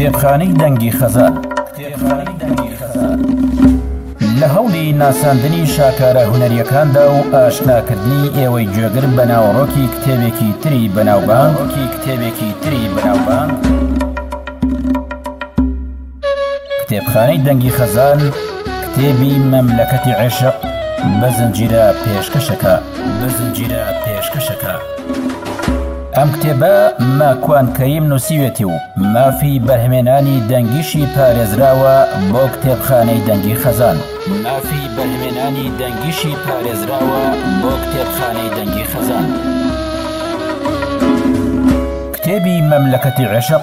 کتێبخانەی دەنگی خەزان لە هەوڵی ناساندنی شاکارە هوەریەکاندا و ئاشناکردنی ئێوەی گوێگر بە ناوەڕۆکی کتێبێکی تری بەناوبانکی کتێبێکی تری بەناوبان. کتێبخانەی دەنگی خەزان کتێبی مەملەکەتی عێشق بە زنجیرە پێشکەشەکە بە زنجیرە پێشکەشەکە ئەم کتێبە ماکوان کەیم نووسیوێتی و مافی بەرهمێنانی دەنگیشی پارێزراوە بۆ کتێبخانەی دەنگی خەزان مافی بەرهمێنانی دەنگیشی پارێزراوە بۆ کتێبخانەی دەنگی خەزان کتێبی مەملەکەتی عێشق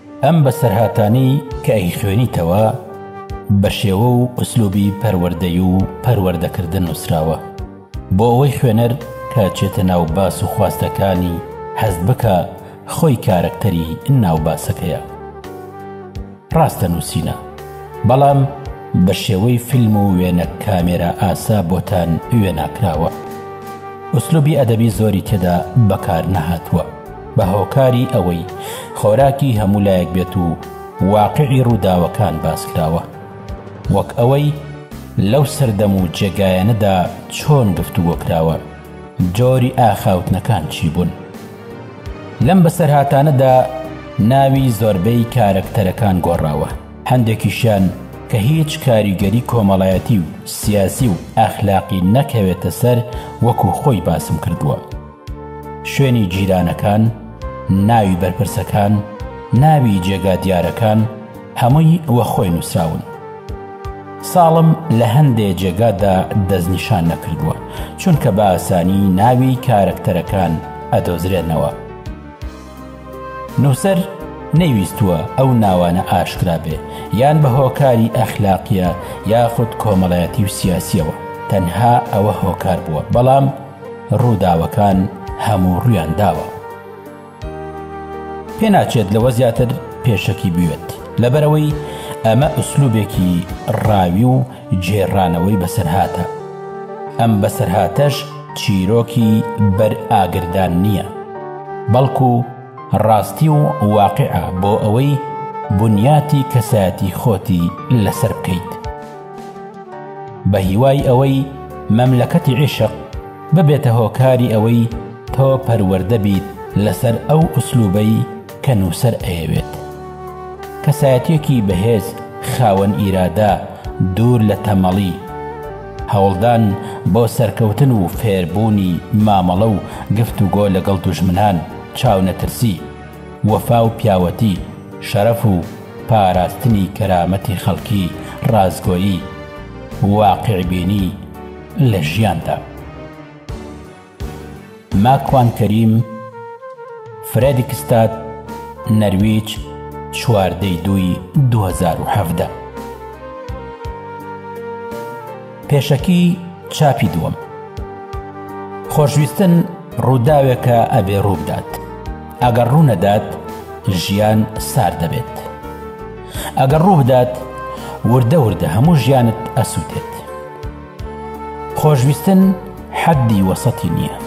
ئەم بەسەرهاتانەی کە ئەیخوێنیتەوە بە شێوە و ئوسلوبی پەروەردەی و پەروەردەکردن نووسراوە بۆ ئەوەی خوێنەر کە چێتە ناو باس و خواستەکانی هەست بکە خۆی کارەکتەری ناو باسەکەیە ڕاستە نووسینە بەڵام بە شێوەی فیلم و وێنە کامێرا ئاسا بۆتان وێناکراوە ئوسلوبی ئەدەبی زۆری تێدا بەکار نەهاتووە بە هۆکاری ئەوەی خۆراکی هەموو لایەک بێت و واقعی ڕووداوەکان باس کراوە وەک ئەوەی لەو سەردەم و جێگایەنەدا چۆن گفتوگۆ کراوە جۆری ئاخاوتنەکان چی بوون لەم بەسەرهاتانەدا ناوی زۆربەی کارەکتەرەکان گۆڕاوە هەندێکیشیان کە هیچ کاریگەری کۆمەڵایەتی و سیاسی و ئەخلاقی نەکەوێتە سەر وەکو خۆی باسم کردووە شوێنی جیرانەکان، ناوی بەرپرسەکان، ناوی جێگا دیارەکان هەمووی وە خۆی نووسراون. ساڵم لە هەندێ جێگادا دەستنیشان نەکردووە چونکە بە ئاسانی ناوی کارەکتەرەکان ئەدۆزرێنەوە. نووسەر نەیویستووە ئەو ناوانە ئاشکرا بێ یان بە هۆکاری ئەخلاقییە یاخود کۆمەڵایەتی و سیاسییەوە تەنها ئەوە هۆکار بووە بەڵام، ڕووداوەکان هەموو ڕوویان داوە پێناچێت لەوە زیاتر پێشەکی بوێت لەبەرەوەی ئەمە ئوسلوبێکی ڕاوی و جێڕانەوەی بەسەرهاتە ئەم بەسەرهاتەش چیرۆکی بەر ئاگردان نییە بەڵکو ڕاستی و واقعە بۆ ئەوەی بنیاتی کەسایەتی خۆتی لەسەر بکەیت. بە هیوای ئەوەی مەملەکەتی عیشق ببێتە هۆکاری ئەوەی تۆ پەروەردە بیت لەسەر ئەو ئوسلوبەی کە نووسەر ئەیەوێت کەسایەتیەکی بەهێز خاوەن ئیرادە دوور لە تەمەڵی هەوڵدان بۆ سەرکەوتن و فێربوونی مامەڵە و گفتوگۆ لەگەڵ دوژمنان چاونەترسی وەفا و پیاوەتی شەرەف و پاراستنی کەرامەتی خەڵکی ڕاستگۆیی واقیعبینی لە ژیاندا. ماکوان کەریم فرێدیکستاد نەرویج چواردە ی دووی دوو هەزار و حەڤدە. پێشەکی چاپی دووەم خۆشویستن ڕووداوێکە ئەبێ ڕووبدات ئەگەر ڕوونەدات ژیان سار دەبێت ئەگەر ڕووبدات وردە وردە هەموو ژیانت ئەسووتێت خۆشویستن حەدی وەسەتی نییە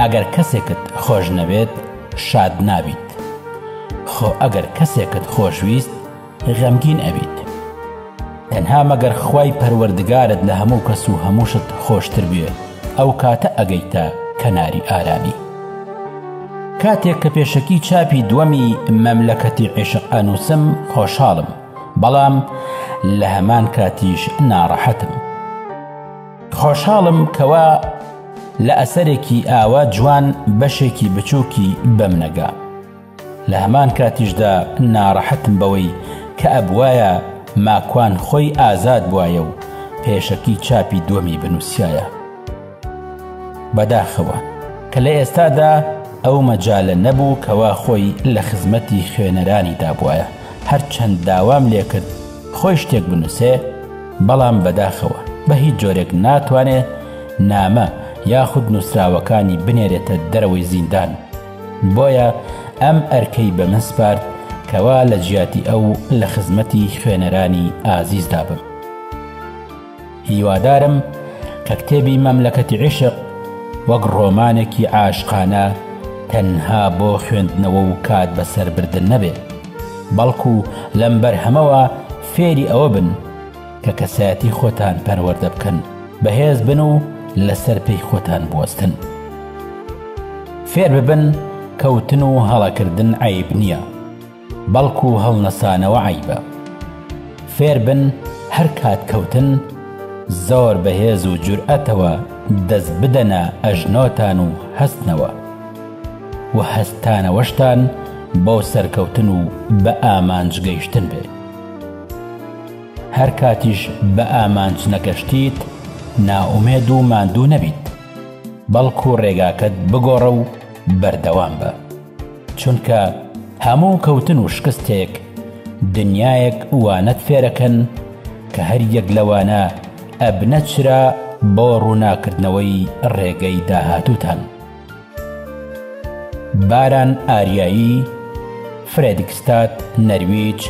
ئەگەر کەسێکت خۆش نەوێت شاد نابیت خۆ ئەگەر کەسێکت خۆشویست غەمگین ئەبیت تەنها مەگەر خوای پەروەردگارت لە هەموو کەس و هەموو شت خۆشتر بوێ ئەو کاتە ئەگەیتە کەناری ئارامی کاتێک کە پێشەکی چاپی دووەمی مەملەکەتی عیشق ئەنووسم خۆشحاڵم بەڵام لە هەمان کاتیش ناڕەحەتم خۆشحاڵم کەوا لە ئەسەرێکی ئاوا جوان بەشێکی بچووکی بەم نەگا لە هەمان کاتیشدا ناڕەحەتم بەوەی کە ئەبوایە ماکوان خۆی ئازاد بوایە و پێشەکی چاپی دووەمی بنووسیایە. بەداخەوە کە لە ئێستادا ئەو مەجالە نەبوو کەوا خۆی لە خزمەتی خوێنەرانی دابوایە، هەرچەند داوام لێکرد خۆی شتێک بنووسێ، بەڵام بەداخەوە بە هیچ جۆرێک ناتوانێ نامە یاخود نووسراوەکانی بنێرێتە دەرەوەی زیندان. بۆیە ئەم ئەرکەی بە من سپارد کەوا لە جیاتی ئەو لە خزمەتی خوێنەرانی ئازیزدا بم. هیوادارم کە کتێبی مەملەکەتی عیشق وەک ڕۆمانێکی عاشقانە تەنها بۆ خوێندنەوە و کات بەسەربردن نەبێت، بەڵکو لەم بەرهەمەوە فێری ئەوە بن، کە کەسایەتی خۆتان پەروەردە بکەن، بەهێز بن و لەسەر پێی خۆتان بوەستن. فێر ببن کەوتن و هەڵەکردن عەیب نییە، بەڵکو هەڵنەسانەوە عەیبە. فێر بن هەر کات کەوتن، زۆر بە هێز و جورئەتەوە دەست بدەنە ئەژنۆتان و هەستنەوە. وە هەستانەوەشتان بۆ سەرکەوتن و بە ئامانج گەیشتن بێ. هەر کاتیش بە ئامانج نەگەشتیت نائومێد و ماندوو نەبیت، بەڵکو ڕێگاکەت بگۆڕە و بەردەوام بە، چونکە هەموو کەوتن و شکستێک دنیایەک وانەت فێرەکەن کە هەر یەک لەوانە ئەبنە چرا بۆ ڕووناکردنەوەی ڕێگەی داهاتووتان. باران ئاریایی فرێدگستاد نەرویج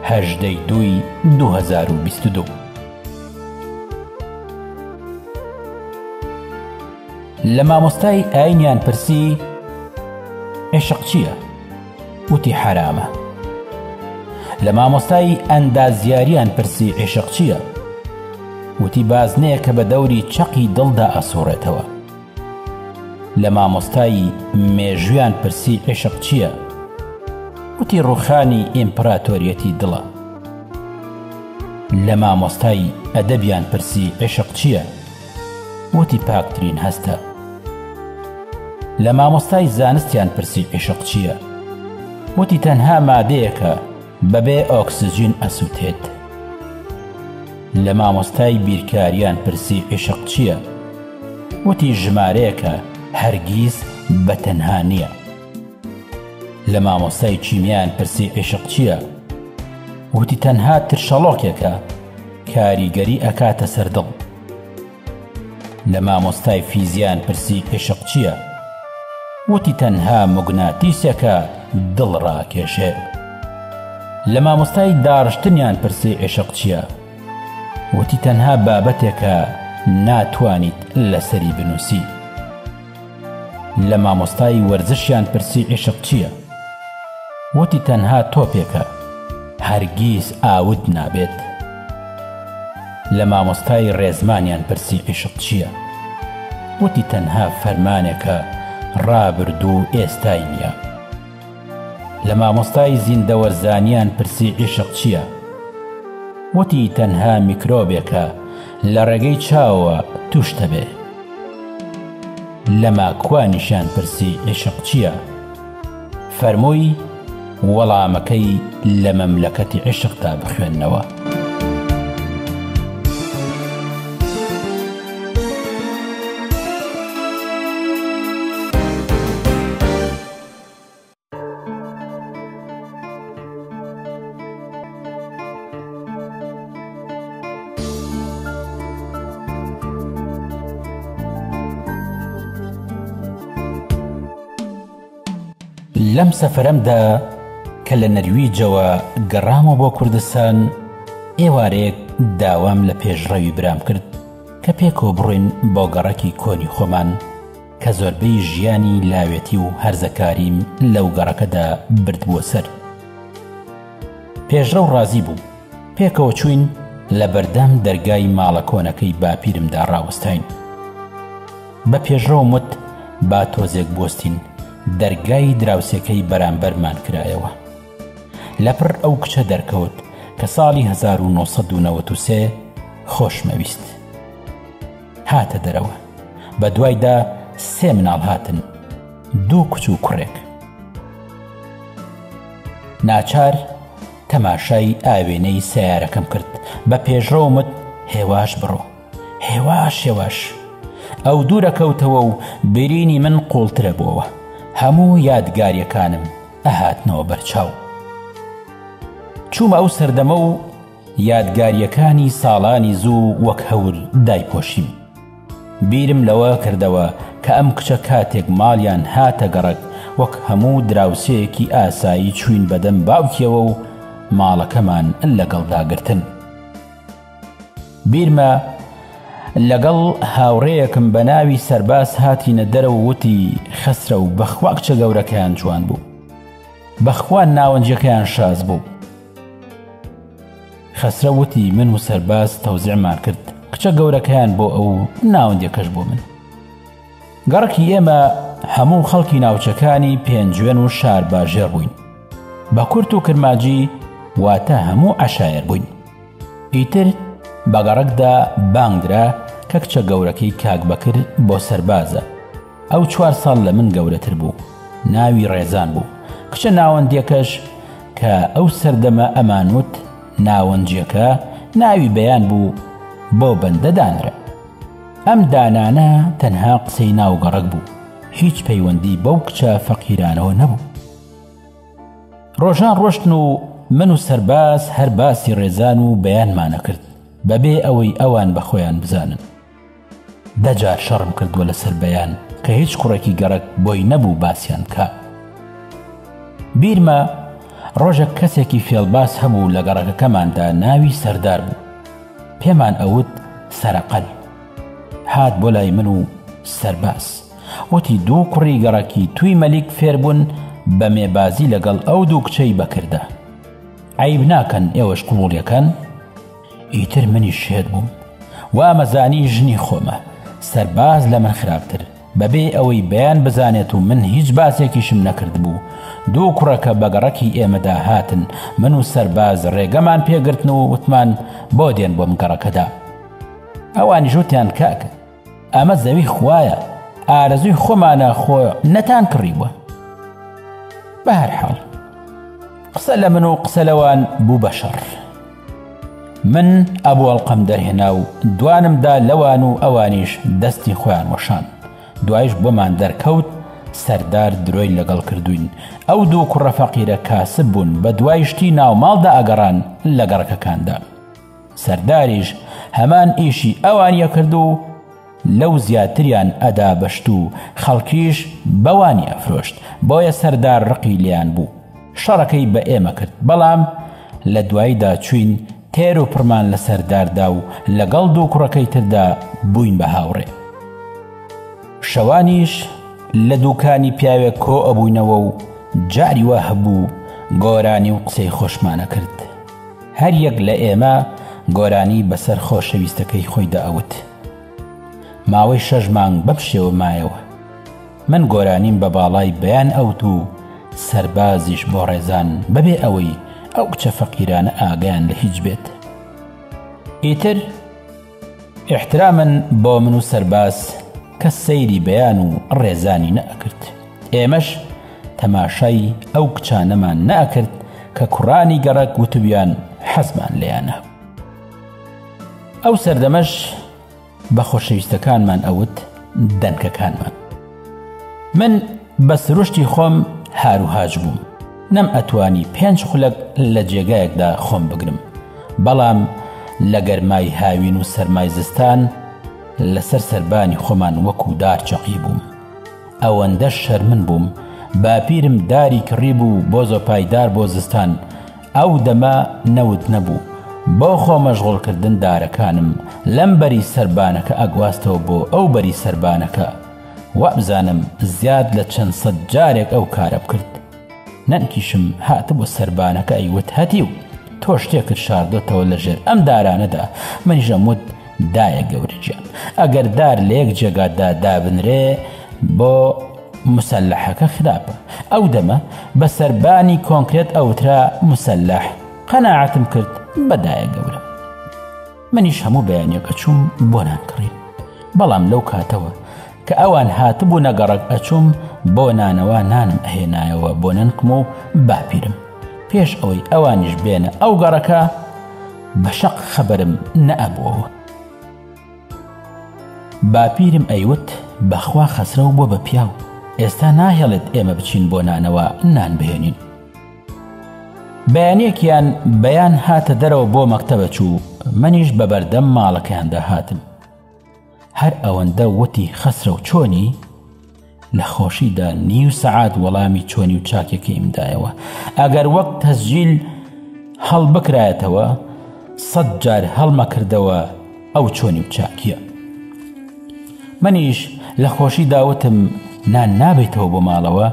هەژدە ی دووی دوو هەزار و بیست و دوو لە مامۆستای ئاینیان پرسی عیشق چییە؟ وتی حەرامە لە مامۆستای ئەندازیاریان پرسی عیشق چییە؟ وتی بازنەیەکە بە دەوری چەقی دڵدا ئەسوڕێتەوە لە مامۆستای مێژویان پرسی عیشق چیە؟ گوتی ڕوخانی ئیمپراتۆریەتی دڵە. لە مامۆستای ئەدەبیان پرسی عیشق چیە؟ وتی پاکترین هەستە. لە مامۆستای زانستیان پرسی عیشق چیە؟ وتی تەنها مادەیەکە بەبێ ئۆکسجین ئەسوتێت. لە مامۆستای بیرکاریان پرسی عیشق چیە؟ وتی ژمارەیەکە هەرگیز بە تەنها نییە. لە مامۆستای کیمیایان پرسی عیشق چییە؟ وتی تەنها ترشەڵۆکێکە کاریگەری ئەکاتە سەر دڵ. لە مامۆستای فیزیان پرسی عیشق چییە؟ وتی تەنها مگناتیسێکە دڵ ڕاکێشێ. لە مامۆستای داڕشتنیان پرسی عیشق چییە؟ وتی تەنها بابەتێکە ناتوانیت لەسەری بنووسی لە مامۆستای وەرزشیان پرسی عیشق چییە وتی تەنها تۆپێکە هەرگیز ئاوت نابێت لە مامۆستای ڕێزمانیان پرسی عیشق چییە وتی تەنها فەرمانێکە ڕابردوو ئێستای نییە لە مامۆستای زیندەوەرزانیان پرسی عیشق چییە؟ وتی تەنها میکرۆبێکە لە ڕێگەی چاوەوە تووش دەبێ. لە ماکوانیشیان پرسی عیشق چییە؟ فەرمووی وەڵامەکەی لە مەملەکەتی عیشقدا بخوێنەوە. لەم سەفرەمدا کە لە نەرویجەوە گەڕامە بۆ کوردستان ئێوارێک داوام لە پێشڕەوی برام کرد کە پێکەوە بڕۆین بۆ گەڕەکی کۆنی خۆمان کە زۆربەی ژیانی لاوێتی و هەرزەکاریم لەو گەڕەکەدا بردبووە سەر. پێشڕەو ڕازی بوو، پێکەوە چووین لە بەردەم دەرگای ماڵە کۆنەکەی باپیرمدا ڕاوەستاین. بە پێشڕەوم وت با تۆزێک بوەستین، دەرگای دراوسێکەی بەرامبەرمان کرایەوە. لەپڕ ئەو کچە دەرکەوت کە ساڵی هەزار و نۆ سەد و نەوەد و سێ خۆشمەویست. هاتە دەرەوە بە دوایدا سێ مناڵ هاتن دوو کچ و کوڕێک ناچار تەماشای ئاوێنەی سیارەکەم کرد بە پێشڕەومت هێواش بڕۆ هێواش هێواش ئەو دوورە کەوتەوە و برینی من قوڵترە بووەوە هەموو یادگاریەکانم ئەهاتنەوە بەرچاو چوومە ئەو سەردەمە و یادگاریەکانی ساڵانی زوو وەک هەور دایپۆشیم بیرم لەوە کردەوە کە ئەم کچە کاتێک ماڵیان هاتە گەڕەک وەک هەموو دراوسێیەکی ئاسایی چوین بەدەم باوکیەوە و ماڵەکەمان لەگەڵدا گرتن بیرمە لەگەڵ هاوڕێیەکم بە ناوی سەرباز هاتینە دەرە و وتی خەسرە و بەخوا کچە گەورەکەیان جوان بوو بەخوا ناوەنجەکەیان شاز بوو خەسرەو وتی من و سەرباز تەوزیعمان کرد کچە گەورەکەیان بۆ ئەو و ناوەندەکەش بۆ من گەڕکی ئێمە هەموو خەڵکی ناوچەکانی پێنجوێن و شار باژێر بووین بە کورت و کرماجی واتە هەموو عشایر بووین ئیتر بەگەڕکدا بانگدرا کە کچە گەورەکەی کاک بەکر بۆ سەربازە ئەو چوار ساڵ لە من گەورەتر بوو ناوی ڕێزان بوو کچە ناوەندەکەش کە ئەو سەردەمە ئەمانوت ناوەنجەکە ناوی بەیان بوو بۆ بەندە دانرا ئەم دانانە تەنها قسەی ناوگەڕک بوو هیچ پەیوەندی بەو کچە فەقیرانەوە نەبوو ڕۆژان ڕۆشتن و من و سەرباز هەر باسی ڕێزان و بەیانمانە کرد بەبێ ئەوەی ئەوان بە خۆیان بزانن دە جار شەڕم کردووە لەسەر بەیان کە هیچ کوڕێکی گەڕەک بۆی نەبوو باسیان کا بیرمە ڕۆژێک کەسێکی فێڵباس هەبوو لە گەڕەکەکەماندا ناوی سەردار بوو پێمان ئەوت سەرقەل هات بۆ لای من و سەرباس وتی دوو کوڕی گەڕەکی توی مەلیک فێربوون بە مێبازی لەگەڵ ئەو دوو کچەی بەکردە عیب ناکەن ئێوەش قوڵیەکەن ئیتر منیش شێت بووم وامەزانی ژنی خۆمە سەرباز لە من خراپتر بەبێ ئەوەی بەیان بزانێت و من هیچ باسێکیشم نەکرد بوو دوو کوڕەکە بەگەڕەکی ئێمەدا هاتن من و سەرباز ڕێگەمان پێگرتن و وتمان بۆ دێن بۆم گەڕەکەدا ئەوانی ژوتیان کاکە ئەمە زەوی خوایە ئارەزوی خۆمانە خۆ نەتان کڕیوە بەهرحاڵ قسە لە من و قسە لەوان بوو بە شەڕ من ئەبوو ئەڵلقەم دەرهێنا و دوانمدا لەوان و ئەوانیش دەستی خۆیان وەشان دوایش بۆمان دەرکەوت سەردار درۆی لەگەڵ کردوین ئەو دوو کوڕە فەقیرە کاسب بوون بە دوایشتی ناوماڵدا ئەگەڕان لە گەڕەکەکاندا سەرداریش هەمان ئیشی ئەوانیە کرد و لەو زیاتریان ئەدا بە شت و خەڵکیش بەوانی ئەفرۆشت بۆیە سەردار ڕقی لێیان بوو شەڕەکەی بە ئێمە کرد بەڵام لە دواییدا چوین تێر و پڕمان لە سەرداردا و لەگەڵ دوو کوڕەکەی تردا بووین بە هاوڕێ شەوانیش لە دووکانی پیاوێک کۆ ئەبووینەوە و جاری وا هەبوو گۆرانی و قسەی خۆشمانە کرد هەر یەک لە ئێمە گۆرانی بەسەر خۆشەویستەکەی خۆی دەئەوت. ماوەی شەش مانگ بەم شێوە مایەوە. من گۆرانیم بە باڵای بەیان ئەوت و سەربازیش بۆ ڕێزان بەبێ ئەوەی ئەو کچە فەقیرانە ئاگایان لە هیچ بێت. ئیتر ئیحتراما بۆ من و سەرباز کەس سەیری بەیان و ڕێزانی نەئەکرد ئێمەش تەماشای ئەو کچانەمان نەئەکرد کە کوڕانی گەڕەک وتبویان حەزمان لێیانە ئەو سەردەمەش بە خۆشەویستەکانمان ئەوت دەنکەکانمان. من بە سروشتی خۆم هاروهاج بووم نەم ئەتوانی پێنج خولەک لە جێگایەکدا خۆم بگرم بەڵام لە گەرمای هاوین و سەرمای زستان لەسەر سربانی خۆمان وەکو دار چەقی بووم ئەوەندە شەرمن بووم باپیرم داری کڕی بوو بۆ زۆپایدار بۆ زستان ئەو دەمە نەوت نەبوو بۆ خۆ مەشغوڵکردن دارەکانم لەم بەری سەربانەکە ئەگواستەوە بۆ ئەو بەری سەربانەکە وابزانم زیاد لە چەند سەد جارێک ئەو کارە بکرد نەنکیشم هاتبوو سەربانەکە ئەیوت هەتیو تۆ شتێکت شاردۆتەوە لەژێر ئەم دارانەدا منیژەموت دایە گەورە گیان ئەگەر دار لە یەک جێگا دا دابنرێ بۆ مسلحەکە خراپە ئەو دەمە بە سەربانی کۆنکرێت ئەوترا مسلح قەنەعەتم کرد بەدایە گەورە منیش هەموو بەیانەکە چووم بۆ نانکڕین بەڵام لەو کاتەوە کە ئەوان هاتبوو نەگەڕک ئەچووم بۆ نانەوە نانم ئەهێنایەوە بۆ نەنکم و باپیرم پێش ئەوەی ئەوانیش بێنە ئەو گەڕەکە بە شەق خەبەرم نە ئەبۆوە. باپیرم ئەیوت بەخوا خەسرەو بوە بە پیاو ئێستا ناهێڵێت ئێمە بچین بۆ نانەوا نان بهێنین. بەیانیەکیان بەیان هاتە دەرەوە بۆ مەکتەبە چوو منیش بە بەردەم ماڵەکەیاندا هاتم. هەر ئەوەندە وتی خەسرەو چۆنی؟ لە خۆشیدا نیو سەعات وەڵامی چۆنی و چاکەکەیم دایەوە ئەگەر وەک تەسجیل هەڵبکرایەتەوە سەد جار هەڵمەکردەوە ئەو چۆنی و چاکیە منیش لە خۆشی داوتم نان نابێتەوە بۆ ماڵەوە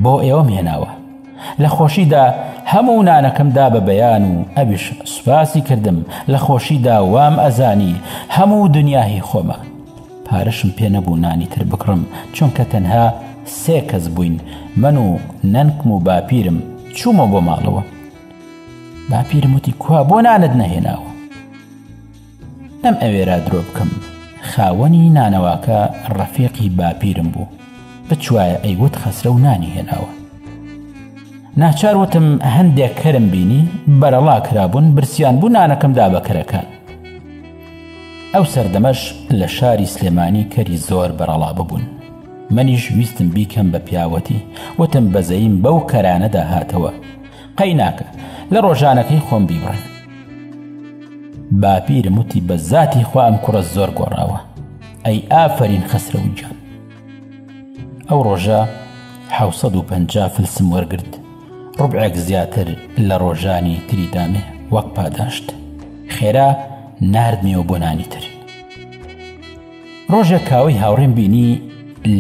بۆ ئێوەم هێناوە لە خۆشیدا هەموو نانەکەم دا بە بەیان و ئەویش سوپاسی کردم لە خۆشیدا وام ئەزانی هەموو دنیاهی خۆمە پارەشم پێ نەبوو نانی تر بکڕم چونکە تەنها سێ کەس بووین من و نەنکم و باپیرم چوومە بۆ ماڵەوە باپیرموتی کوا بۆ نانت نەهێناوە نەم ئەوێرا درۆ بکەم خاوەنی نانەواکە ڕەفیقی باپیرم بوو بچوایە ئەیوت خەسرەو نانی هێناوە ناچار وتم هەندێک کەرم بینی بەرەڵا کرابوون برسیان بوو نانەکەم دا بە کەرەکان ئەو سەردەمەش لە شاری سلێمانی کەری زۆر بەرەڵا ببوون منیش ویستم بیکەم بە پیاوەتی وتم بەزەیم بەو کەرانەدا هاتەوە قەیناکە لە ڕۆژانەکەی خۆم بیبڕن باپیرم وتی بە زاتی خوا ئەم کوڕە زۆر گۆڕاوە ئەی ئافەرین خەسرەوی جان ئەو ڕۆژە حوسەد و پەنج فلسم وەرگرت ڕبعێک زیاتر لە ڕۆژانی تری دامێ وەک پاداشت خێرا نردمیەوە بۆ نانی تر ڕۆژێک کاوەی هاوڕێم بینی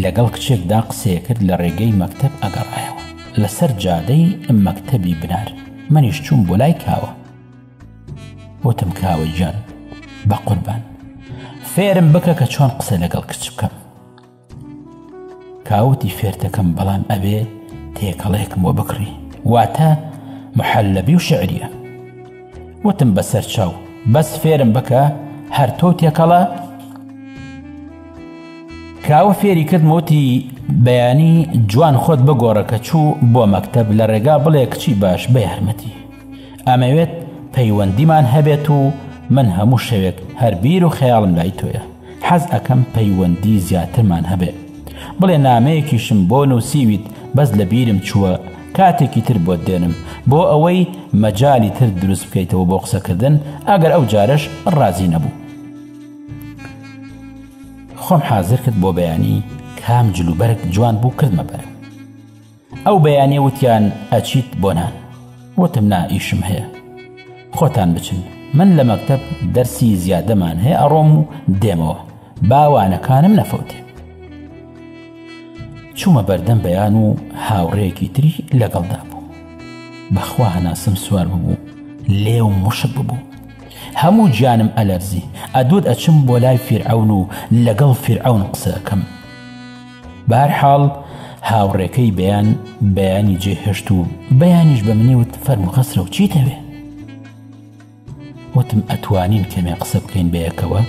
لەگەڵ کچێکدا قسەیەکرد لە ڕێگەی مەکتب ئەگەڕایەوە لەسەر جادەی مەکتەبی بنار منیش چووم بۆ لای کاوە وتم کاوە گیان بە قوربان فێرم بکە کە چۆن قسە لەگەڵ کچ بکەم کاوتی فێرتەکەم بەڵام ئەبێ تێکەڵێکم وە بکڕی واتە محەلەبی و شعریە وتم بەسەر چاو بەس فێرم بکە هەر تۆ تێکەڵە کاوە فێری کرد موتی بەیانی جوان خۆت بگۆڕە کە چوو بۆ مەکتب لە ڕێگا بڵێ کچی باش بە یارمەتی ئەمەوێت پەیوەندیمان هەبێت و من هەموو شەوێک هەربیر و خەیاڵم لای تۆیە حەز ئەەکەم پەیوەندی زیاترمان هەبێت بڵێ نامەیەکیشم بۆ نووسیویت بەس لە بیرم چووە کاتێکی تر بۆت دێنم بۆ ئەوەی مەجای تر دروست بکەیتەوە بۆ قسەکردن ئەگەر ئەو جارش ڕازی نەبوو خۆم حازر کرد بۆ بەیانی کام جلوبەرگ جوان بوو کردمە بەر ئەو بەیانێ وتیان ئەچیت بۆ نان وتم نا ئیشم هەیە خۆتان بچن من لە مەکتب دەرسی زیادەمان هەیە ئەڕۆم و دێمەوە باوانەکانم نەفەوتێ چوومە بەردەم بەیان و هاوڕێیەکی تری لەگەڵدا بوو بەخوا هەناسم سوار ببوو لێو مشک ببوو هەموو گیانم ئەلەرزی ئەدوت ئەچم بۆ لای فیرعون و لەگەڵ فیرعون قسەکەم بارحاڵ هاوڕێکەی بەیان بەیانی جێهێشت و بەیانیش بە منیوت فەرموخەسرە و چی دەوێ وتم، ئەتوانین کەمێ قسە بکەین بەیەکەوە؟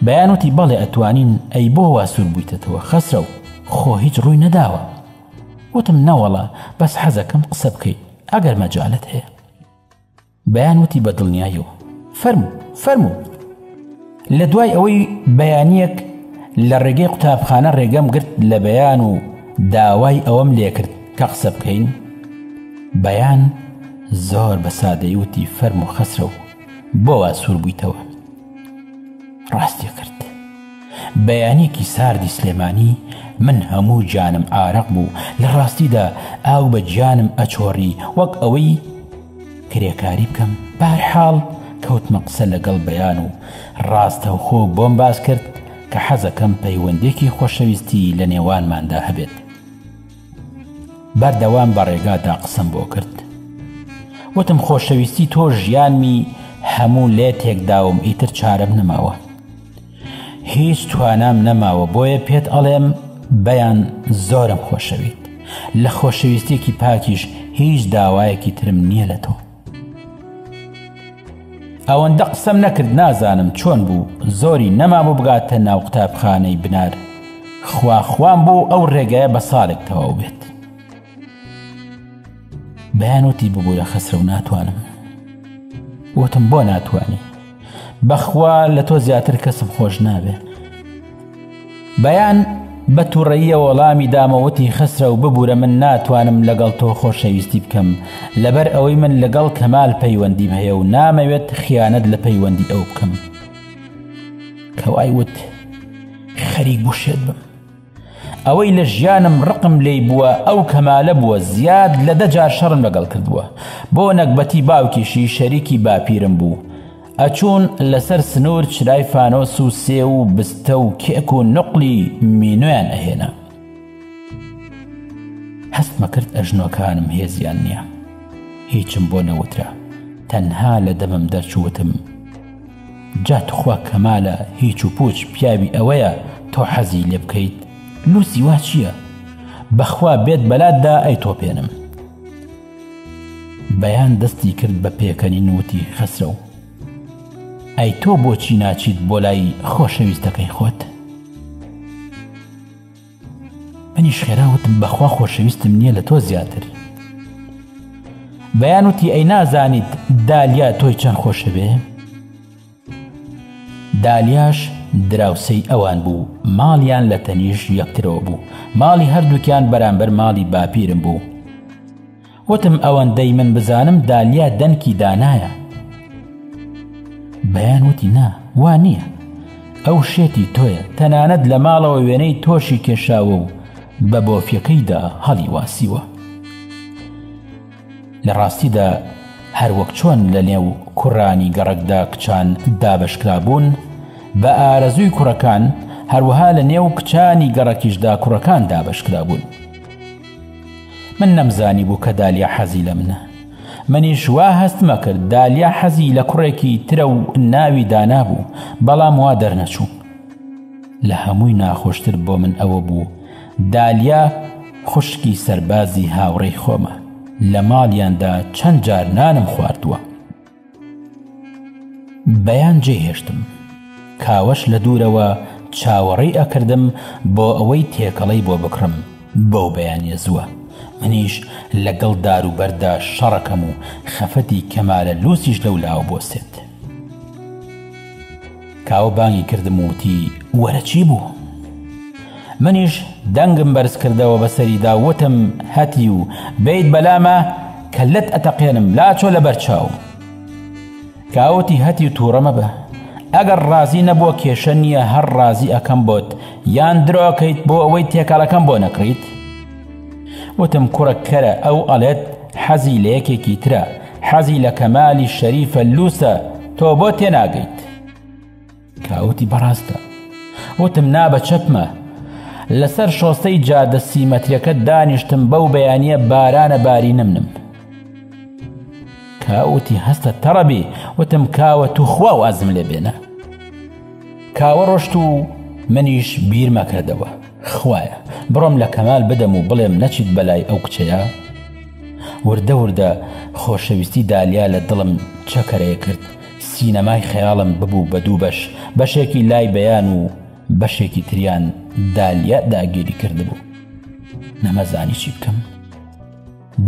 بەیان وتی، بەڵێ ئەتوانین، ئەی بۆ وا سوور بوویتەتەوە خەسرەو، خۆ هیچ ڕووی نەداوە؟ وتم، نەوەڵا، بەس حەزەکەم قسە بکەین، ئەگەر مەجالت هەیە. بەیان وتی بە دڵنیایەوە، فەرموو، فەرموو. لە دوای ئەوەی بەیانیەک لە ڕێگەی قوتابخانە ڕێگەم گرت لە بەیان و داوای ئەوەم لێکرد کە قسە بکەین بەیان زۆر بە سادەیوتی فەرم و خەسرە و بۆوا سوور بوویتەوە ڕاستی کرد بەیانێکی ساردی سلێمانی من هەموو جانم ئارەق بوو لە ڕاستیدا ئاو بە گیانم ئەچۆڕی وەک ئەوەی کرێکاری بکەم بەرحاڵ کەوتمە قسە لەگەڵ بەیان و ڕاستەوخۆ بۆم باس کرد کە حەزەکەم پەیوەندێکی خۆشەویستی لە نێوانماندا هەبێت بەردەوام بە ڕێگادا قسەم بۆ کرد وتم خۆشەویستی تۆ ژیانمی هەموو لێ تێکداوم ئیتر چارەم نەماوە هیچ توانام نەماوە بۆیە پێت ئەڵێم بەیان زۆرم خۆشەویت لە خۆشەویستێکی پاکیش هیچ داوایەکی ترم نییە لە تۆ ئەوەندە قسەم نەکرد نازانم چۆن بوو زۆری نەمابوو بگاتە ناو قوتابخانەی بنار خواخوام بوو ئەو ڕێگایە بە ساڵێک تەواو بێت بەیان وتی ببوورە خەسرە و ناتوانم وتم بۆ ناتوانی بەخوا لە تۆ زیاتر کەسم خۆش نابێ بەیان بە تووڕەیە وەڵامی دامەوتی خەسرە و ببوورە من ناتوانم لەگەڵ تۆ خۆشەویستی بکەم لەبەر ئەوەی من لەگەڵ کەمال پەیوەندیم هەیە و نامەوێت خیانەت لە پەیوەندی ئەو بکەم کەوای وت خەریک بوشێت بم ئەوەی لە ژیانم ڕقم لێی بووە ئەو کەمالە بووە زیاد لە دە جار شەڕم لەگەڵ کردووە بۆ نەگبەتی باوکیشی شەریکی باپیرم بوو ئەچوون لەسەر سنوور چرای فانۆس و سێ و بستە و کێک و نقلی مینۆیان ئەهێنا هەستمە کرد ئەژنۆکانم هێزیان نییە هیچم بۆ نەوترا تەنها لە دەمم دەرچووتم جا توخوا کەمالە هیچ و پوچ پیاوی ئەوەیە تۆ حەزی لێ بکەیت لوسی وا چییە بەخوا بێت بەلات دا ئەی تۆپێنم بەیان دەستی کرد بە پێکەنین وتی خەسرە و ئەی تۆ بۆچی ناچیت بۆ لای خۆشەویستەکەی خۆت؟ منیش خێرا وتم بەخوا خۆشەویستم نییە لە تۆ زیاتر بەیان وتی ئەی نازانیت دالیا تۆی چەند خۆشەوێ دالیاش دراوسەی ئەوان بوو ماڵیان لە تەنیش یەکترەوە بوو ماڵی هەردووکیان بەرامبەر ماڵی باپیرم بوو وتم ئەوەندەی من بزانم دالیا دەنکی دانایە بەیان وتی نا وا نییە ئەو شێتی تۆیە تەنانەت لە ماڵەوە وێنەی تۆشی کێشاوە و بە بۆفیەکەیدا هەڵی واسیوە لە ڕاستیدا هەروەک چۆن لە نێو کوڕانی گەڕکدا کچان دابشکرابوون بە ئارەزووی کوڕەکان هەروەها لە نێو کچانی گەڕەکیشدا کوڕەکان دابشکرابوون من نەمزانیبوو کە دالیا حەزی لە منە منیش وا هەستمە کرد دالیا حەزی لە کوڕێکی ترە و ناوی دانا بوو بەڵام وا دەرنەچوو لە هەمووی ناخۆشتر بۆ من ئەوە بوو دالیا خوشکی سەربازی هاوڕێی خۆمە لە ماڵیاندا چەند جار نانم خواردووە بەیان جێهێشتم کاوەش لە دوورەوە چاوەڕێی ئەکردم بۆ ئەوەی تێکەڵەی بۆ بکڕم بەو بەیانە زووە منیش لەگەڵ دار و بەردا شەڕەکەم و خەفەتی کەمالە لوسیش لەولاوە بۆسێت کاوە بانگی کردم و وتی، وەرە چی بوو؟ منیش دەنگم بەرز کردەوە بە سەریدا و وتم، هەتی و بێیت بەلامە کەللەت ئەتەقێنم لاچۆ لە بەر چاوم. کاوە وتی، هەتی و تووڕە مەبە، ئەگەر ڕازی نەبووە کێشە نییە هەر ڕازی ئەکەم بۆت، یان درۆ ئەکەیت بۆ ئەوەی تێکەڵەکەم بۆ نەکڕیت؟ وتم، کوڕە کەرە ئەو ئەڵێت حەزی لە یەکێکی ترە، حەزی لە کەمالی شەریفە لووسە تۆ بۆ تێناگەیت کاوتی بەڕاستە وتم نا بە چەپمە لەسەر شۆستەی جادە سیمەترەکە دانیشتم بەو بەیانە بارانە باری نمنم کاوتی هەستە تەڕەبی وتم کاوە تو خوا وازم لێ بێنە کاوە ڕۆشت و منیش بیرمەکردەوە خوایە بڕۆم لە کەمال بدەم و بڵێم نەچیت بەلای ئەو کچەیە وردە وردە خۆشەویستی دالیا لە دڵم چەکەرەیە کرد سینەمای خەیاڵم ببوو بە دوو بەش بەشێکی لای بەیان و بەشێکی تریان دالیا داگیری کردبوو نەمەزانی چی بکەم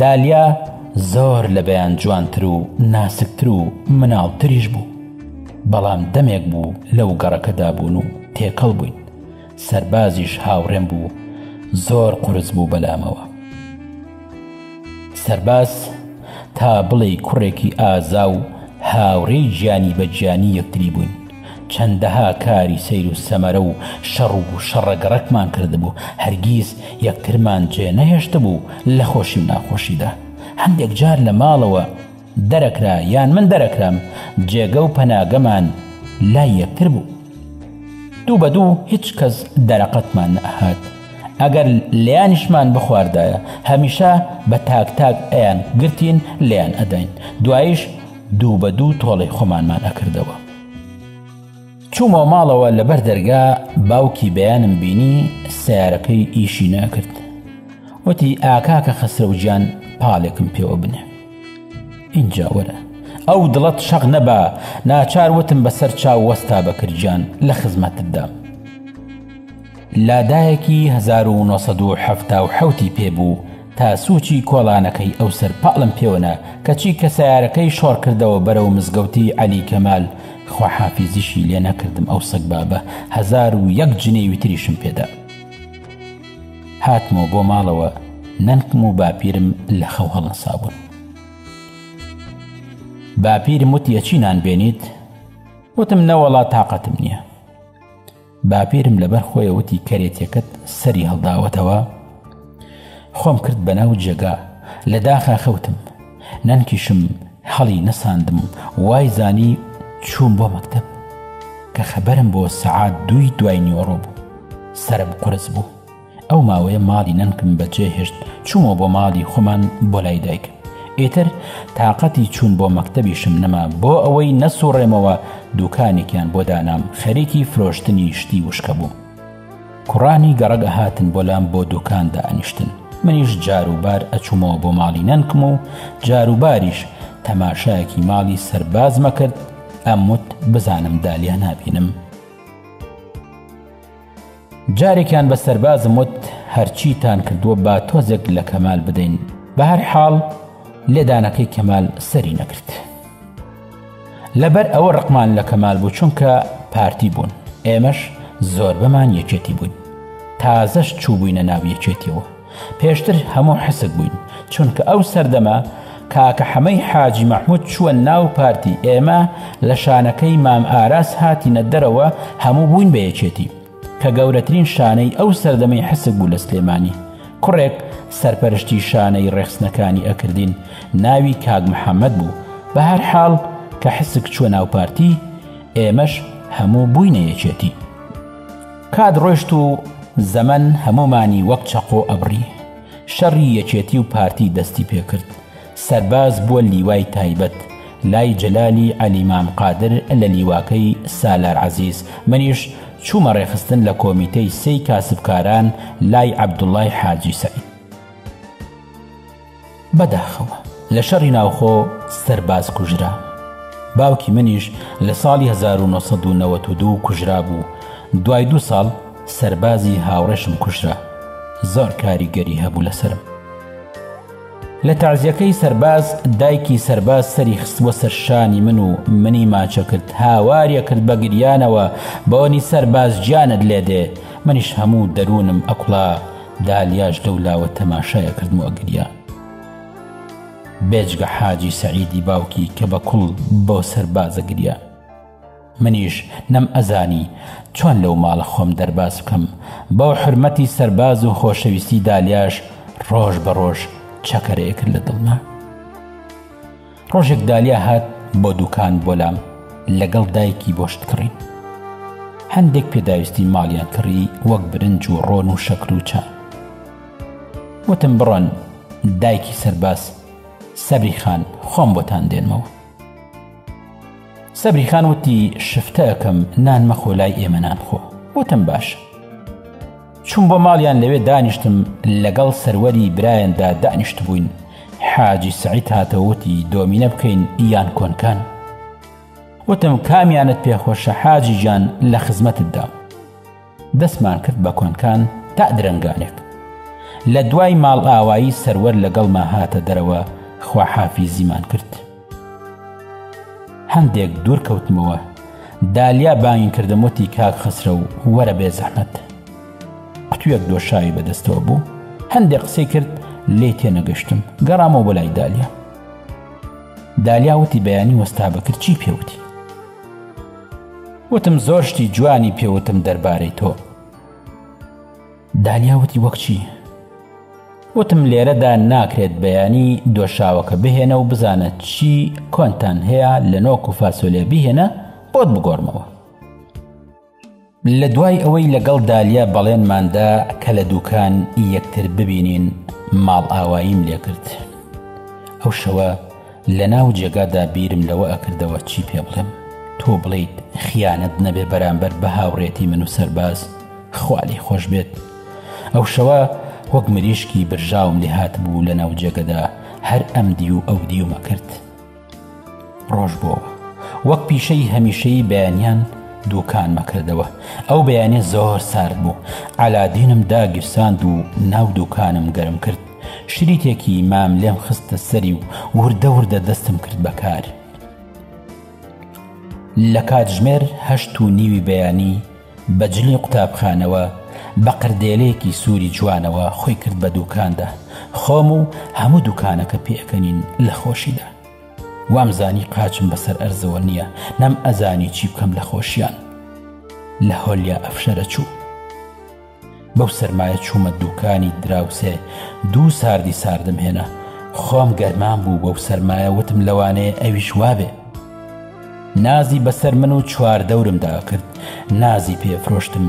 دالیا زۆر لە بەیان جوانتر و ناسکتر و مناڵتریش بوو، بەڵام دەمێک بوو لەو گەڕەکەدا بوون و تێکەڵ بووین، سەربازیش هاوڕێم بوو، زۆر قورس بوو بەلامەوە. سەرباز تا بڵێی کوڕێکی ئازا و هاوڕێی گیانی بە گیانی یەکتری بووین. چەندەها کاری سەیر و سەمەرە و شەڕ و شەڕە گەڕەکمان کردبوو، هەرگیز یەکترمان جێ نەهێشتبوو لە خۆشی و ناخۆشیدا. هەندێک جار لە ماڵەوە دەرەکرا یان من دەرەکرام، جێگە و پەناگەمان لای یەکتر بوو. دوو بە دوو هیچ کەس دەرەقەتمان نەئەهات، ئەگەر لێیانیشمان بخواردایە، هەمیشە بە تاک تاک ئەیانگرتین لێیان ئەداین، دواییش دوو بە دوو تۆڵەی خۆمانمان ئەکردەوە. چوومەوە ماڵەوە لەبەر دەرگا باوکی بەیانم بینی سیارەکەی ئیشی ناکرد وتی ئاکاکە خەسرەوجان پاڵێکم پێوە بنێ اینجا وەرە ئەو دڵەت شەق نەبا ناچار وتم بەسەر چاو وەستا بەکرجان لە خزمەتتدا لادایەکی 1970 پێ بوو تا سوچی کۆڵانەکەی ئەو سەر پاڵم پێوە نا کەچی کە سەیارەکەی شۆڕ کردەوە بەرەو مزگەوتی عەلی کەمال خواحافیزیشی لێ نەکردم ئەو سەگبابە هەزار و یەک جنێوی تریشم پێدا هاتمەوە بۆ ماڵەوە نەنکم و باپیرم لە خەو هەڵنسابوون باپیرم وتیە چی نان بێنیت وتم نەوەڵا تااقەتم نییە باپیرم لەبەر خۆیە وتی کەرێتەکەت سەری هەڵداوەتەوە خۆم کرد بەناو جێگا لە داخا خەوتم نەنکیشم هەڵی نەساندم وای زانی چووم بۆ مەکتب کە خەبەرم بۆ سەعات دووی دوای نیوەڕۆ بوو سرم قرس بوو ئەو ماوەیە ماڵی نەنکم بە جێ هێشت چوومەوە بۆ ماڵی خۆمان بۆ لای دایکم ئیتر تااقەتی چوون بۆ مەکتەبیشم نەما بۆ ئەوەی نەسوڕێمەوە دوکانێکیان بۆ دانام خەریکی فرۆشتنی شتی وشکە بوو کوڕانی گەڕک ئەهاتن بۆ لام بۆ دوکان دانیشتن منیش جاروبار ئەچوومەوە بۆ ماڵی نەنکم و جاروباریش تەماشایەکی ماڵی سەربازمە کرد ئەموت بزانم دالیا نابینم جارێکیان بە سەربازم وت هەرچیتان کردووە با تۆزێک لە کەمال بدەین بە هەر حاڵ لێدانەکەی کەمال سەری نەکرد لەبەر ئەوە ڕقمان لە کەمال بوو چونکە پارتی بوون ئێمەش زۆر بەمان یەکێتی بووین تازەش چوو بووینە ناو یەکێتیەوە پێشتر هەموو حسک بووین چونکە ئەو سەردەمە کاکە حەمەی حاجی مەحمود چووە ناو پارتی ئێمە لە شانەکەی مام ئاراس هاتینە دەرەوە هەموو بووین بە یەکێتی کە گەورەترین شانەی ئەو سەردەمەی حسک بوو لە سلێمانی کوڕێک سەرپەرشتی شانەی ڕێخستنەکانی ئەکردین ناوی کاک محەممەد بوو بە هەر حاڵ کە حسک چووە ناو پارتی ئێمەش هەموو بووینە یەکێتی کات ڕۆشت و زەمەن هەموومانی وەک چەقۆ ئەبڕی، شەڕی یەکێتی و پارتی دەستی پێکرد، سەرباز بووە لیوای تایبەت لای جەلالی عەلی مام قادر لە لیواکەی سالار عەزیز، منیش چوومە ڕێخستن لە کۆمیتەی سێی کاسبکاران لای عەبدوڵای حاجی سەعید. بەداخەوە لە شەڕی ناوخۆ سەرباز کوژرا باوکی منیش لە ساڵی 1992 کوژرا بوو دوای دو ساڵ سەربازی هاوڕێشم کوژرا زۆر کاریگەری هەبوو لەسرم لە تازیەکەی سەرباز دایکی سەرباز سەری خستوە سەرشانی من و منی ماچە کرد هاوارە کرد بە گریانەوە بۆنی سەرباز گیانت لێ دێ منیش هەموو دەروونم ئەکڵا دالیاش لەو لاوە تەماشای ئەکردم و ئەگریا. بێجگە حاجی سەعیدی باوکی کە بە کوڵ بۆ سەرباز ئەگریا. منیش نەم ئەزانی چۆن لەو ماڵە خۆم دەرباز بکەم، بۆ حورمەتی سەرباز و خۆشەویستی دالیاش ڕۆژ بە ڕۆژ چەکەرەیەکرد لە دڵما. ڕۆژێک دالیا هات بۆ دوکان بۆ لام لەگەڵ دایکی بۆ شتکڕین هەندێک پێداویستی ماڵیان کڕی وەک برنج و ڕۆن و شەکر و چا وتم بڕۆن دایکی سەرباز سەبری خان خۆم بۆتان دێنمەوە سەبری خان وتی شفتەکەم نان مەخۆ لای ئێمە نان خۆ وتم باش چووم بۆ ماڵیان لەوێ دانیشتم لەگەڵ سەروەری برایاندا دانیشتبووین حاجی سعید هاتەوەتی دۆمینە بکەین یان کۆنکان وتم کامیانت پێخۆشە حاجی گیان لە خزمەتتدا دەستمان کرد بە کۆنکان تا درنگانێک لە دوای ماڵ ئاوایی سەروەر لەگەڵما هاتە دەرەوە خواحافیزیمان کرد هەندێک دوور کەوتمەوە دالیا بانگی کردم وتی کاک خسرە و وەرە بێ زەحمەت قوتوێک دۆشاوی بەدەستەوە بوو هەندێک قسەی کرد لێ تێنەگەشتم گەڕامەوە بەلای دالیا دالیا وتی بەیانی وەستا بەکرد چی پێوتی وتم زۆر شتی جوانی پێوتم دەربارەی تۆ دالیا وتی وەک چی؟ وتم لێرەدا ناکرێت بەیانی دۆشاوەکە بهێنە و بزانە چی کۆنتان هەیە لە نۆک و فاسۆلێ بهێنە بۆت بگۆڕمەوە لە دوای ئەوەی لەگەڵ دالیا بەڵێنماندا کە لە دوکان یەکتر ببینین ماڵ ئاواییم لێکرد ئەو شەوە لە ناو جێگادا بیرم لەوە ئەکردەوە چی پێ بڵێم تۆ بڵیت خیانەت نەبێ بەرامبەر بە هاوڕێتی من و سەرباز خوا لێی خۆش بێت ئەو شەوە وەک مریشکی برژاوم لێ هات بوو لە ناو جێگەدا هەر ئەم دی و ئەو دیومە کرد ڕۆژ بۆ وەک پیشەی هەمیشەی بەیانیان دوکان مەکردەوە ئەو بەیانێ زۆر سارد بوو ئالادینم داگیرساند و ناو دوکانم گەرم کرد شریتێکی مام لێم خستە سەری و وردە وردە دەستم کرد بەکار لە کاتژمێر هەشت و نیوی بەیانی بە جلی قوتابخانەوە، بە قردێلێکی سووری جوانەوە خۆی کرد بە دووکاندا، خۆم و هەموو دووکانەکە پێکەنین لە خۆشیدا. وامزانی قاچم بەسەر ئەرزەوە نییە، نەمئەزانی چی بکەم لە خۆشییان. لە هۆلیا ئەفشەرە چوو. بەو سەرمایە چوومە دووکانی دراوسێ دوو ساردی ساردم هێنا خۆم گەرمان بوو بەو سەرمایە وتم لەوانەیە ئەویش وابێ نازی بەسەر من و چوار دەورمدا کرد نازی پێفرۆشتم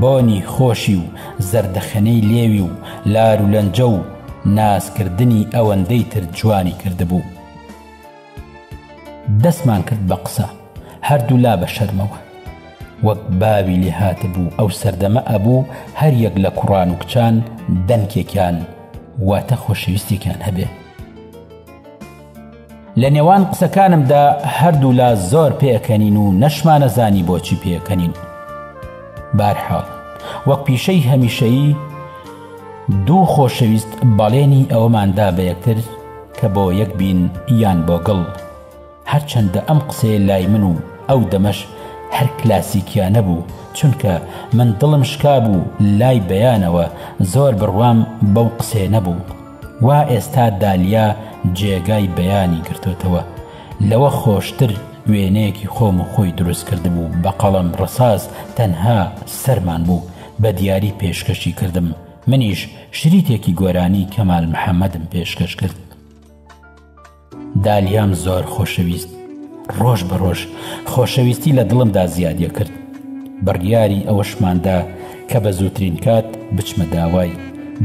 بۆنی خۆشی و زەردەخەنەی لێوی و لار و لەنجە و نازکردنی ئەوەندەی تر جوانی کردبوو دەستمان کرد بە قسە هەردوولا بە شەرمەوە وەک باوی لێ هاتبوو ئەو سەردەمە ئەبوو هەر یەک لە کوڕان و کچان دەنکێکیان واتە خۆشەویستێکیان هەبێ لە نێوان قسەکانمدا هەردوولا زۆر پێکەنین و نەشمانە زانی بۆچی پێکەنین بارحاڵ وەک پیشەی هەمیشەیی دوو خۆشەویست بەڵێنی ئەوەماندا بە یەکتر کە بۆ یەک بین یان بۆ گڵ. هەرچەندە ئەم قسەیە لای من و ئەو دەمەش هەر کلاسیکیانە بوو، چونکە من دڵم شکابوو لای بەیانەوە زۆر بڕوام بەو قسەیە نەبوو. وا ئێستا دالیا جێگای بەیانی گرتۆتەوە، لەوە خۆشتر وێنەیەکی خۆم و خۆی دروست کردبوو بە قەڵەم ڕەساس تەنها سەرمان بوو، بە دیاری پێشکەشی کردم. منیش شریتێکی گۆرانی کەمال محەمەدم پێشکەش کرد دالیام زۆر خۆشەویست ڕۆژ بە ڕۆژ خۆشەویستی لە دڵمدا زیادە کرد بڕیاری ئەوەشماندا کە بە زووترین کات بچمە داوای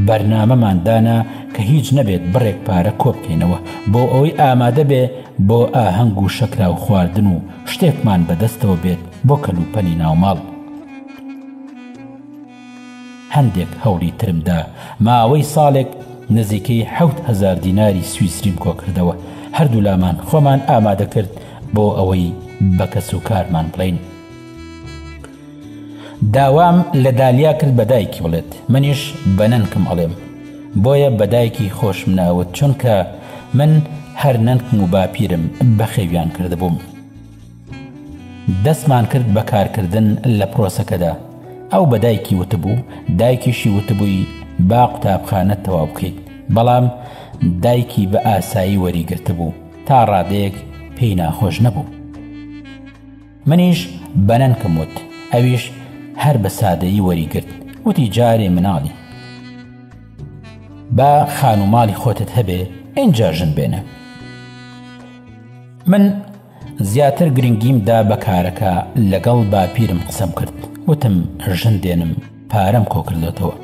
بەرنامەمان دانا کە هیچ نەبێت بڕێک پارە کۆبکەینەوە بۆ ئەوەی ئامادە بێ بۆ ئاهەنگ و شەکرا و خواردن و شتێکمان بەدەستەوە بێت بۆ کەلوپەلی ناوماڵ هەندێک هەوڵی ترم دا، ماوەی ساڵێک نزیکەی حەوت هەزار دیناری سویسریم کۆکردەوە، هەردوولامان خۆمان ئامادەکرد بۆ ئەوەی بە کەسوکارمان بڵێین. داوام لە دالیا کرد بە دایکی بڵێت، منیش بە نەنکم ئەڵێم، بۆیە بە دایکی خۆشم ناوت، چونکە من هەر نەنکم و باپیرم بەخێویان کردبووم. دەستمان کرد بە کارکردن لە پرۆسەکەدا، ئەو بە دایکی وتبوو، دایکیشی وتبووی با قوتابخانە تەواو بکەیت، بەڵام دایکی بە ئاسایی وەریگرتبوو، تا ڕادەیەک پێی ناخۆش نەبوو. منیش بە نەنکم وت، ئەویش هەر بە سادەیی وەریگرت، وتی جارێ مناڵی. با خانووماڵی خۆتت هەبێ، ئینجا ژن بێنە. من. زیاتر گرنگیم دا بە کارەکە لەگەڵ باپیرم قسەم کرد وتم ژن دێنم پارەم کۆکردێتەوە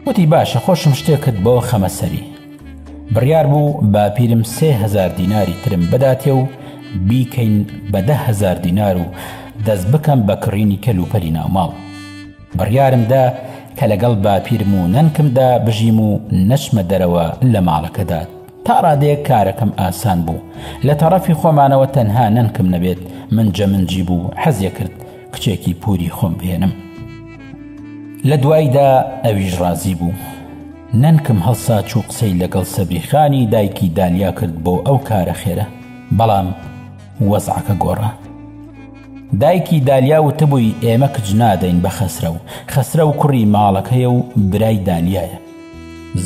وتی باشە خۆشم شتێکت بۆ خەمە سەری بڕیار بوو باپیرم سێ هزار دیناری ترم بداتێ و بیکەین بە دە هزار دینار و دەست بکەم بە کڕینی کەلوپەری ناوماڵ بڕیارمدا کە لەگەڵ باپیرم و نەنکمدا بژیم و نەچمە دەرەوە لە ماڵەکەدا تا ڕادەیەک کارەکەم ئاسان بوو، لە تەڕەفی خۆمانەوە تەنها نەنکم نەبێت منجەمنجی بوو، حەزیەکرد کچێکی پووری خۆم بهێنم. لە دواییدا ئەویش ڕازی بوو. نەنکم هەڵساچوو قسەی لەگەڵ سەبری خانی دایکی دالیا کرد بۆ ئەو کارە خێرە، بەڵام وەزعەکە گۆڕا. دایکی دالیا وتبووی ئێمە کچ نادەین بە خەسرەو، خەسرەو کوڕی ماڵەکەیە و برای دالیایە.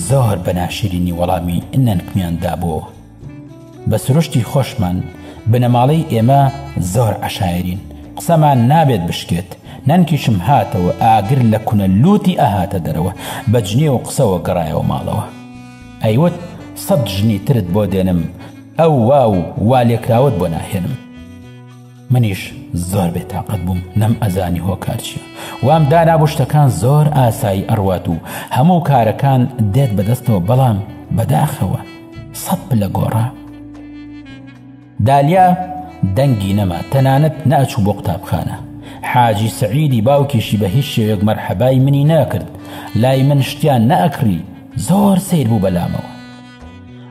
زۆر بە ناشرینی وەڵامی نەنکمیان دابۆوە. بە سروشتی خۆشمان بنەماڵەی ئێمە زۆر عەشایەرین، قسەمان نابێت بشکێت، نەنکیشم هاتەوە ئاگر لە کونە لووتی ئەهاتە دەرەوە، بە جنێو و قسەوە گەڕایەوە ماڵەوە. ئەیوت سەد ژنی ترت بۆ دێنم، ئەو وا و والێکراوەت بۆ ناهێنم. منیش زۆر بێ تاقەت بووم نەم ئەزانی هۆکار چیە وام دانابوو شتەکان زۆر ئاسایی ئەڕوات و هەموو کارەکان دێت بەدەستەوە بەڵام بەداخەوە سەد پلە گۆڕا دالیا دەنگی نەما تەنانەت ناچوو بۆ قوتابخانە حاجی سعیدی باوکیشی بە هیچ شێوێک مەرحەبای منی ناکرد لای من شتیان نەئەکڕی زۆر سیر بوو بەلامەوە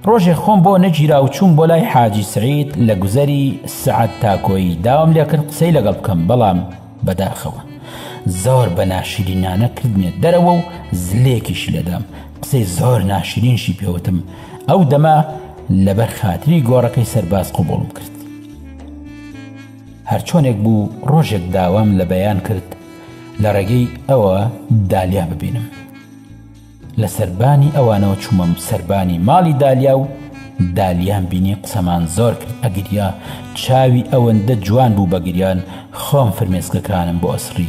ڕۆژێ خۆم بۆ نەگیرا و چووم بۆ لای حاجی سەعید لە گوزەری سەعەد تاکۆی داوام لێ کرد قسەی لەگەڵ بکەم بەڵام بەداخەوە زۆر بە ناشرینانە کردمێ دەرەوە و زلێکیش لێدام قسەی زۆر ناشرینشی پێوتم ئەو دەما لەبەر خاتری گۆڕەکەی سەرباز قوبوڵم کرد هەرچۆنێک بوو ڕۆژێک داوام لە بەیان کرد لە ڕێگەی ئەوە دالیا ببینم لە سەربانی ئەوانەوە چوومم سەربانی ماڵی دالیا و دالیام بینی قسەمان زۆر کرد ئەگریا چاوی ئەوەندە جوان بوو بە گریان خۆم فرمێسکەکانم بۆ ئەسڕی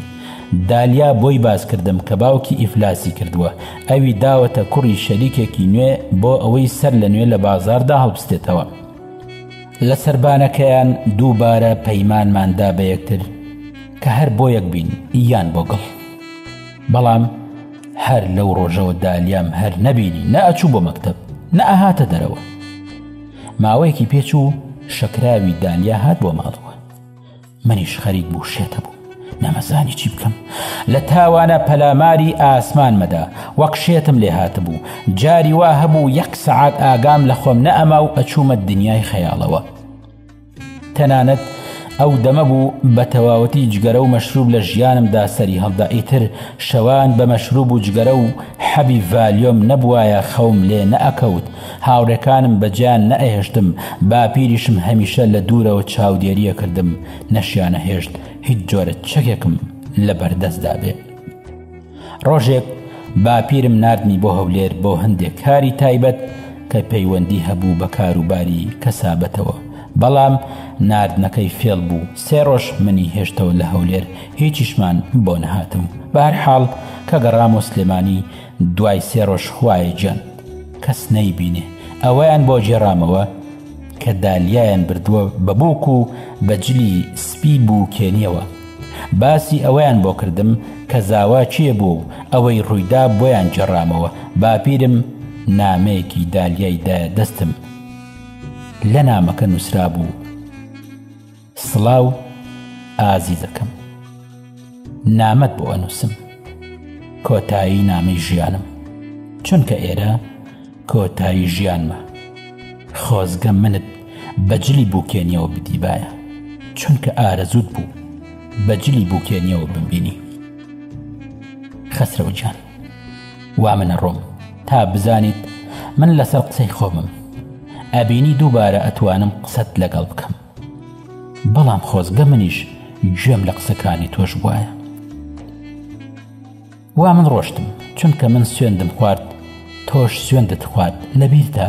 دالیا بۆی باس کردم کە باوکی ئیفلاسی کردووە ئەوی داوەتە کوڕی شەریکێکی نوێ بۆ ئەوەی سەر لە نوێ لە بازاردا هەڵبستێتەوە لە سربانەکەیان دووبارە پەیمانماندا بە یەکتر کە هەر بۆ یەک بین یان بۆ گڵ بەڵام هەر لەو ڕۆژەوە دالیام هەر نەبینی نە ئەچوو بۆ مەکتب نە ئەهاتە دەرەوە ماوەیەکی پێچوو شەکراوی دالیا هات بۆ ماڵەوە منیش خەریک بوو شێتە بوو نەمەزانی چی بکەم لە تاوانە پەلاماری ئاسمان مەدا وەک شێتم لێ هاتبوو جاری وا هەبوو یەک سەعات ئاگام لە خۆم نەئەما و ئەچوومە دنیای خەیاڵەوە تەنانەت ئەو دەمە بوو بە تەواوەتی جگەرە و مەشروب لە ژیانمدا سەری هەڵدا ئیتر شەوان بە مەشروب و جگەرە و حەبی ڤالیۆم نەبوایە خەوم لێ نەئەکەوت هاوڕێکانم بە جێیان نەئەهێشتم باپیریشم هەمیشە لە دوورەوە چاودێری ئەکردم نەشیانەهێشت هیچ جۆرە چەکێکم لەبەردەستدا بێ. ڕۆژێک باپیرم ناردمی بۆ هەولێر بۆ هەندێک کاری تایبەت کە پەیوەندی هەبوو بە کاروباری کەسابەتەوە بەڵام ناردنەکەی فێڵ بوو سێ ڕۆژ منی هێشتەوە لە هەولێر هیچیشمان بۆ نەهاتم بار حاڵ کە گەڕام و سلێمانی دوای سێ ڕۆژ خوایە جەند کەس نەیبینێ ئەوەیان بۆ جێڕامەوە کە دالیایان بردووە بە بووک و بەجلی سپی بوو کێنیەوە باسی ئەوەیان بۆ کردم کە زاوا کێ بوو و ئەوەی ڕوویدا بۆیان گێڕامەوە، باپیرم نامەیەکی دالیای دایە دەستم، لە نامەکە نووسرابوو، سڵاو ئازیزەکەم، نامەت بۆ ئەنووسم، کۆتایی نامەی ژیانم، چونکە ئێرە، کۆتایی ژیانمە خۆزگە منت بە جلی بوکێنیەوە بدیبایە چونکە ئارەزووت بوو بە جلی بوکێنیەوە بمبینی خەسرەوە گیان وا منە ڕۆم تا بزانیت من لەسەر قسەی خۆمم ئەبینی دووبارە ئەتوانم قسەت لەگەڵ بکەم بەڵام خۆزگە منیش گوێم لە قسەکانی تۆش بواە وا من ڕۆشتم چونکە من سوێندم خوارد تۆش سوێندت خوارد لەبیرتە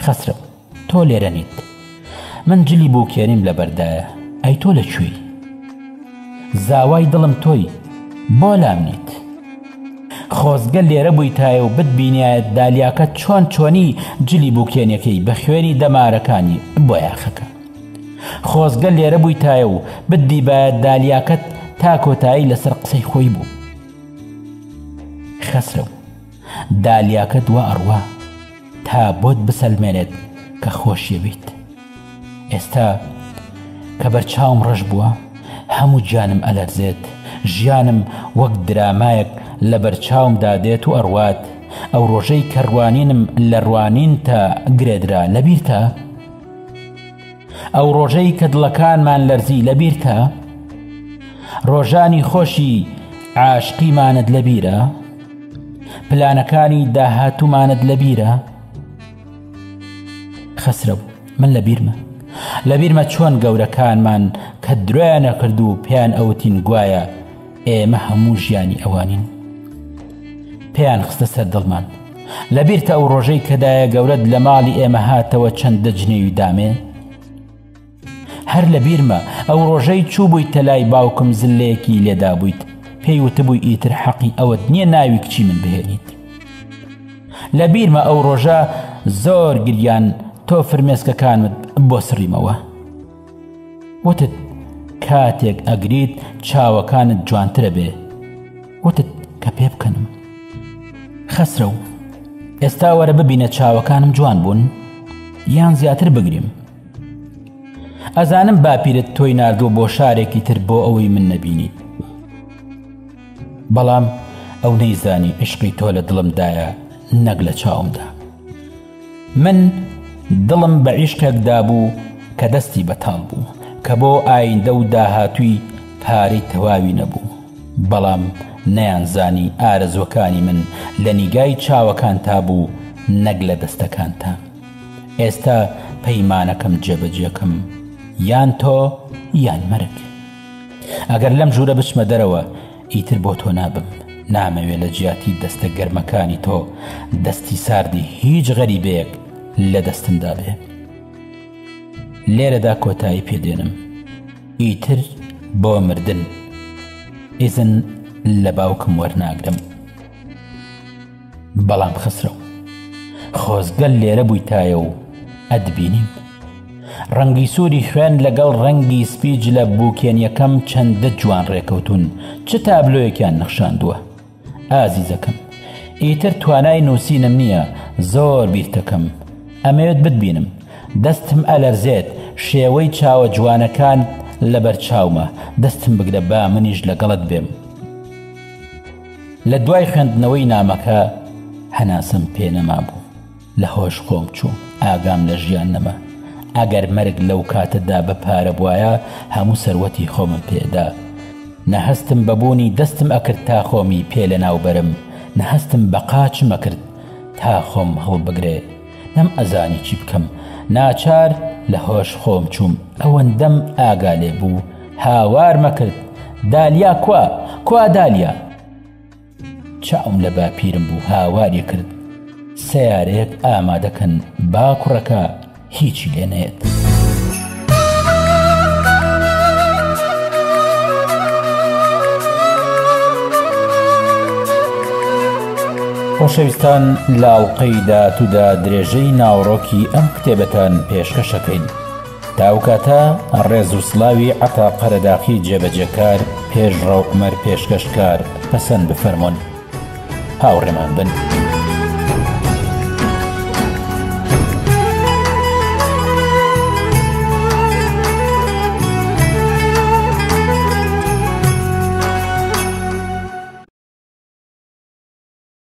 خەسرەت تۆ لێرە نیت من جلی بۆ کێریم لە بەردایە ئەی تۆ لە کوێی زاوای دڵم تۆی بۆ لام نیت خۆزگە لێرە بوویتایە و بتبینایەت دالیاکە چۆن چۆنی جلی بووکێنەکەی بە خوێنی دەمارەکانی بۆ یاخەکە خۆزگە لێرە بوویتایە و بتدیبایە دالیاکەت تا کۆتایی لەسەر قسەی خۆی بوو. خەسرەو، دالیاکەت وا ئەڕوا تا بۆت بسەلمێنێت کە خۆشیەوێیت. ئێستا کە بەرچاوم ڕەش بووە، هەموو گیانم ئەلەرزێت، ژیانم وەک درامایەک لەبەرچاومدا دێت و ئەڕوات، ئەو ڕۆژەی کە ڕوانینم لە ڕوانینتە گرێدرا لەبیرتە؟ ئەو ڕۆژەی کە دڵەکانمان لەرزی لەبیرتە؟ ڕۆژانی خۆشی عاشقیمانت لەبیرە؟ پلانەکانی داهاتوومانت لەبیرە؟ خەسرە بوو من لە بیرمە لە بیرمە چۆن گەورەکانمان کە درۆیانە کرد و پێیان ئەوتین گوایە ئێمە هەموو ژیانی ئەوانین پێیان خستە سەر دڵمان لەبیرتە ئەو ڕۆژەی کەدایە گەورەت لە ماڵی ئێمە هاتەوە چەند دەجنێوی دامێ هەر لە بیرمە ئەو ڕۆژەی چوو بوویت تەلای باوکم زلەیەکی لێدا بوویت پێی وتبووی ئیتر حەقی ئەوەت نییە ناوی کچی من بهێنیت لە بیرمە ئەو ڕۆژە زۆر گریان تۆ فرمێسکەکانت بۆ سڕیمەوە وتت کاتێک ئەگریت چاوەکانت جوانترە بێ وتت کە پێ بکەنم خەسرە و ئێستا وەرە ببینە چاوەکانم جوان بوون یان زیاتر بگریم ئەزانم باپیرت تۆی نردوو بۆ شارێکی تر بۆ ئەوەی من نەبینیت بەڵام ئەو نەیزانی عشقی تۆ لە دڵمدایە نەک لە چاومدا من دڵم بە عیشقێک دابوو کە دەستی بەتاڵ بوو کە بۆ ئایندە و داهاتووی پارەی تەواوی نەبوو بەڵام نەیانزانی ئارەزووەکانی من لە نیگای چاوەکانتا بوو نەک لە دەستەکانتا ئێستا پەیمانەکەم جێبەجێکەم یان تۆ یان مەرگ ئەگەر لەم ژوورە بچمە دەرەوە ئیتر بۆ تۆ نابم. نامەوێ لە جیاتی دەستە گەرمەکانی تۆ دەستی ساردی هیچ غەریبەیەک لە دەستمدا بێ. لێرەدا کۆتایی پێدێنم. ئیتر بۆ مردن ئیزن لە باوکم وەرناگرم. بەڵام خەسرەو خۆزگە لێرە بوویتایە و ئەتبینیم ڕەنگی سووری خوێن لەگەڵ ڕەنگی سپی جلە بووکێنیەکەم چەندە جوان ڕێکەوتون چ تابلۆیەکیان نەخشاندووە ئازیزەکەم ئیتر توانای نووسینم نییە زۆر بیرتەکەم ئەمەوێت بتبینم دەستم ئەلەرزێت شێوەی چاوە جوانەکان لەبەر چاومە دەستم بگرە با منیش لەگەڵت بێم لە دوای خوێندنەوەی نامەکە هەناسەم پێ نەمابوو لە هۆش خۆم چوو ئاگام لە ژیان نەما ئەگەر مەرگ لەو کاتەدا بە پارە بواە هەموو سەروەتی خۆمم پێدا نەهستم بەبوونی دەستم ئەکرد تا خۆمی پێ لە ناوبەرم نەهستم بە قاچمەکرد تا خۆم هەڵبگرێ نەم ئەزانی چی بکەم ناچار لە هۆش خۆم چووم ئەوەندەم ئاگا لێ بوو هاوار مەکرد دالیا کوا کوا دالیا چاوم لە باپیرم بوو هاواری کرد سیارەیەک ئامادەکەن با کوڕەکە هیچی لێ نێت. خۆشەویستان لە ئەڵقەی داهاتوودا درێژەی ناوەڕۆکی ئەم کتێبەتان پێشکەشەکەین تا ئەو کاتە ڕێز و سلاوی عەتا قەرەداخی جێبەجێکار پێشڕەو عومەر پێشکەشکار پەسەند بفەرموون. هاوڕێمان بن.